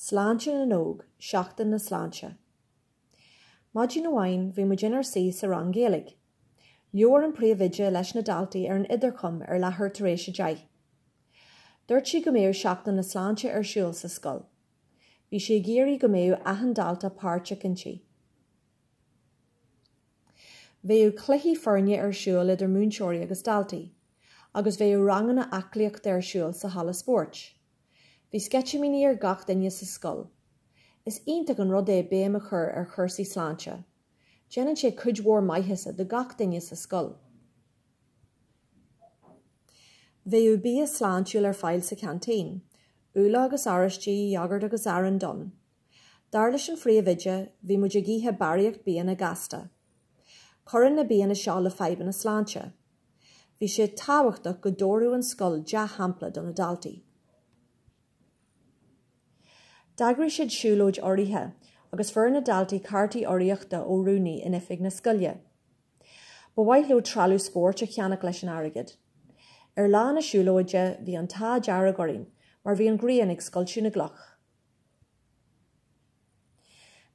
Sláinte na n-óg, Seachtain na Sláinte. Maidin amháin bhí muid inár suí sa rang Gaeilge. Labhair an príomhoide leis na daltaí ar an idirchum ar leathuair tar éis a deich. Dúirt sí go mbeadh Seachtain na Sláinte ar siúl sa scoil. Bhí sí ag iarraidh go mbeadh achan dalta páirteach inti. Bheadh cluichí foirne ar siúl idir múinteoirí agus daltaí, agus bheadh ranganna aclaíochta ar siúl sa halla spóirt. Bhí sceitimíní ar gach duine sa scoil. Is iontach an rud é béim a chur ar chúrsaí sláinte. Déanann sé cuid mhór maitheasa do gach duine sa scoil. Bheadh bia sláintiúil ar fáil sa ceaintín, úlla agus oráistí, iógart agus arán donn, Dar leis an phríomhoide, bhí muid ag ithe barraíocht bianna gasta. Cuireann na bianna seo le fadhbanna sláinte. Bhí sé tábhachtach go dtabharfadh an scoil dea-shampla do na daltaí. D'eagraigh siad siúlóid urraithe agus fuair na daltaí cártaí urraíochta ó rúnaí in oifig na scoile. Ba mhaith leo treallamh spóirt a cheannach leis an airgead. Ar lá na siúlóide, bhí an t-ádh dearg orainn mar bhí an ghrian ag scoilteadh na gcloch.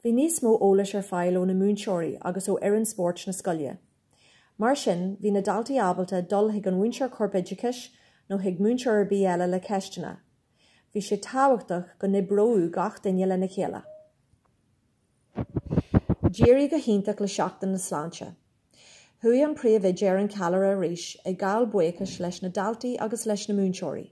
Bhí níos mó eolais ar fáil ó na múinteoirí agus ó fhoireann spóirt na scoile. Mar sin, bhí na daltaí ábalta dul chuig an mhúinteoir corpoideachais nó chuig múinteoir ar bith eile le ceisteanna. Bhí sé tábhachtach go n-oibreodh gach duine lena chéile. D'éirigh go hiontach le Seachtain na Sláinte. Chuaigh an príomhoide ar an challaire arís ag gabháil buíochais leis na daltaí agus leis na múinteoirí.